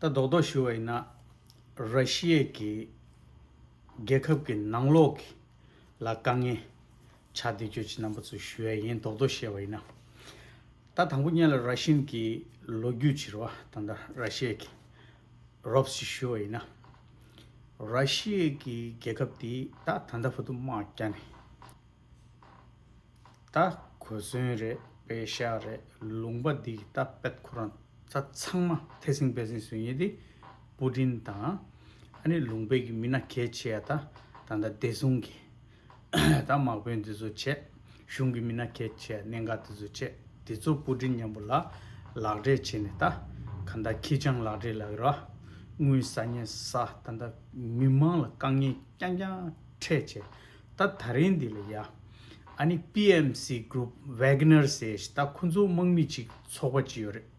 རྡོག་རྡོག་ཞུ་བ་ཡིན་ན་ར་ཤི་ཡའི་གི་རྒྱལ་ཁབ་ཀྱི་ནང་ལོག་གི་ལ་དཀའ་ངལ་ཆགས་བསྡད་ཁྱོད་ཀྱི་རྣམ་པ་ཚོ་ཞུ་ཡ་ཡིན་རྡོག་རྡོག་བཤད་བ་ཡིན་ན། ད་དང་པོ་གཉེན་ལ་ར་ཤིན་གྱི་ལོ་རྒྱུས་བྱིར་བ་ད་ད་ར་ཤི་ཡའི་གི། རོབས་ཞིག་ཞུས་པ་ཡིན་ན། ར་ཤི་ཡའི་གི་རྒྱལ་ཁབ་དེ་ད་ད་ད་བུ་དུ་དམག་རྒྱ་ནས་ད་གོ་མཚོན་རེད་དཔེ་ཤ་རེད་ལུང་པ་འདི་ད་པད་ཁོ་རང་ད་ཚང་མ་ཐེ་སིང་བེ་སིང་བཟོས་ཉེ་དེ་པུ་ཏིན་དང་ཨ་ནི་ལུང་པའི་གི་མི་ན་གལ་ཆེ་ཡ་ད་ད་ད་བདེ་སྲུང་གི། ད་དམག་དཔོན་འདི་ཚོ་བྱས། གཞུང་གི་མི་སྣ་ཁྱེད་བྱས་གནད་འགག་འདི་ཚོ་བྱས། འདི་ཚོ་སྤུ་གྲི་མཉམ་པོ་ལ། ལག་སྦྲེལ་བྱས་ནས་ད། ག་འདའ་ཁྱི་སྤྱང་ལག་སྦྲེལ་ལ་ར། དངུལ་ཟ་བརྙན་ཟ་ད་འདའ། མི་དམངས་ལ་དཀའ་ངལ་རྐྱང་རྐྱང་འཕྲད་བྱས། ད་ད་རིང་འདི་ལ་ཡ། ཨ་ནི PMC Group Wagners ཞེས་ད་ཁོ་ཚོ་དམག་མི་ཅིག་ཚོགས་པ་ཅིག་ཡོད་རེད།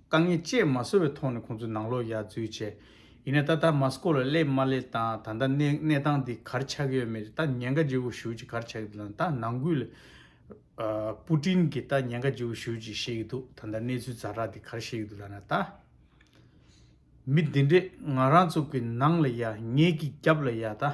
དཀའ་ངལ་བཅས་མ་བཟོ་བའི་ཐོག་ནས་ཁོང་ཚོ་ནང་ལོག་ཡར་འཛུལ་བྱས། ཡིན་ན་ད་ལྟ་མ་སྐོར་ལ་སླེབས་མ་སླེབས་དང་ད་ལྟ་གནས་གནས་སྟངས་འདི་གར་ཆགས་ཡོད་མེད་ད་ཉེན་ཁ་ལྗི་བོ་ཞུ་ཅི་གར་ཆགས་ཡོད་དང་ད་ནང་ཁུལ་པུ་ཀྲིན་གྱིས་ད་ཉེན་ཁ་ལྗི་བོ་ཞུ་ཅི་བཤད་ཀྱི་འདུག་ད་ལྟ་གནས་ཚུལ་རྫ་དྲག་འདི་གར་བཤད་ཀྱི་འདུག་ལབ་ན་ད། མི་འདི་འདྲས་ང་རང་ཚོ་གི་ནང་ལ་ཡར་ངེད་ཀྱི་རྒྱབ་ལ་ཡར་ད།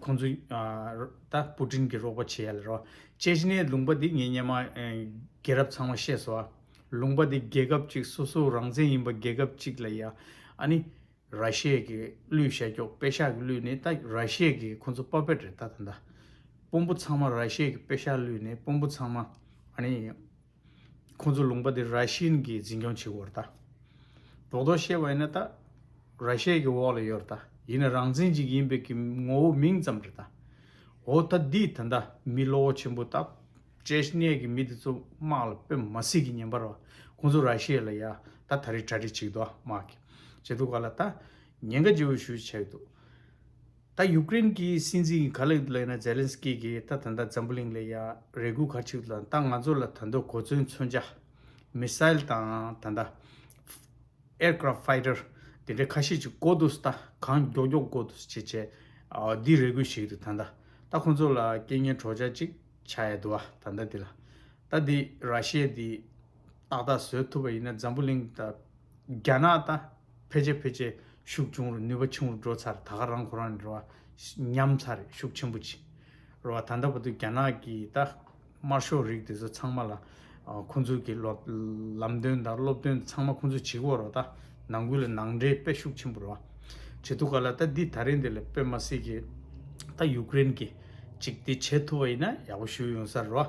ཁོང་ཚོས་ད་སྤུ་ཀྲིན་གྱི་རོགས་པ་བྱེད་ཡ་ལ་རོ། ཅེ་ཅི་ནའི་ལུང་པ་འདི་ངས་སྙན་མ་རྒྱལ་རབས་ཚང་མ་ཤེས་སོ། ལུང་པ་འདི་རྒྱལ་ཁབ་ཅིག་སོ་སོ་རང་བཙན་ཡིན་པ་རྒྱལ་ཁབ་ཅིག་ལ་ཡ། ཨ་ནི་ར་ཤེ་ཡ་གི་གླུའི་ཤ་ཀྱོག་པེ་ཤ་ཀྱི་གླུ་ནི་ད་ར་ཤེ་ཡ་གི་ཁོང་ཚོ་པ་པེད་རེད་ད་ད་ད། སྤོམ་པོ་ཚང་མ་ར་ཤེ་ཡ་གི་པེ་ཤ་ཀྱི་གླུ་ནི་སྤོམ་པོ་ཚང་མ་ཨ་ནི། ཁོང་ཚོ་ལུང་པ་དེ་ར་ཤི་ཡན་གྱིས་འཛིན་སྐྱོང་བྱེད་དགོས་ར་ད། རོགས་རྡོ་ཤེ་བ་ཡིན་ན་ད་ར་ཤེ་ཡའི་འོག་ལ་ཡོད་ར་ད་ཡིན་ན་རང་བཙན་ཅིག་ཡིན་པའི་གི་ངོ་བོ་མིང་ཙམ་ར་ད། འོ་ད་འདིས་ད་ད་མི་བློ་བོ་ཆེན་པོ་ད་ཅེ་ཤི་ནའི་གི་མི་དེ་ཚོ་དམག་ལ་པེ་མ་སི་གི་ཉན་པ་ར་བ་ཁོང་ཚོ་ར་ཤེ་ལ་ཡ་ད་ད་རི་ཁྲ་རི་ཆིག་དོ་དམག་གི་བྱེད་དོ་ག་ལ་ད་ཉན་ག་ཇི་བོ་ཞུ་བྱེད་དོ། ད་ཡུཀ་རེན་གྱི་སྲིད་འཛིན་གྱི་ཁ་ལེགས་དུ་གླེང་ན་ཛེ་ལན་སི་ཀི་གིས་ད་ད་ད་འཛམ་བུ་གླིང་ལ་ཡ་རེ་གུ་ག་ཆིག་དང་ད་ང་ཚོ་ལ་ད་འདོད་གོ་ཚོན་མཚོན་ཆ། མི་སྲ་ཡལ་དང་ད་ད། Aircraft Fighter། དེ་འདྲའི་ཁ་ཤས་ཅིག་གོ་དུས་ད་གང་མགྱོགས་མགྱོགས་གོ་དུས་བྱེད་བྱེད། འདི་རེ་གུ་ཞིག་རེད་ད་ད། ད་ཁོ་ཚོ་ལ་རྐྱེན་ངན་གྲོགས་བྱ་ཅིག་བྱ་ཡ་དུ་བ་ད་ད་འདི་ལ། ད་འདི་ར་ཤི་ཡའི་འདི། ཏག་ཏག་བཟོས་ཐུབ་པ་ཡིན་ན་འཛམ་བུ་གླིང་དང། རྒྱ་ནག་དང་ཕལ་ཆེར་ཕལ་ཆེར་ཤུགས་ཆུང་རུ་ནུས་པ་ཆུང་རུ་འགྲོ་ཚར་ད་ག་རང་གོ་རང་ནས་རེད་བ། ཉམས་ཚར་རེད་ཤུགས་ཆེན་པོ་ཆེ། རེད་བ་ད་ལྟ་བར་དུ་རྒྱ་ནག་གིས་ད་དམར་ཤོག་རིགས་དེ་ཚོ་ཚང་མ་ལ། ཁོང་ཚོའི་གི་ལམ་སྟོན་དང་སློབ་སྟོན་ཚང་མ་ཁོང་ཚོས་བྱེད་གི་འོག་རོ་ད་ནང་ཁུལ་ལ་ནང་འདྲེན་དཔེ་ཤུགས་ཆེན་པོ་རེད་བ། བྱེད་ཐུབ་ག་ལ་ད་འདི་ད་རིང་འདི་ལ་དཔེ་མ་སྲིད་གི། ད་ཡུཀ་རེན་གི་ཅིག་འདི་བྱེད་ཐུབ་པ་ཡིན་ན་ཡག་པོ་ཞུ་ཡོང་ས་རེད་བ།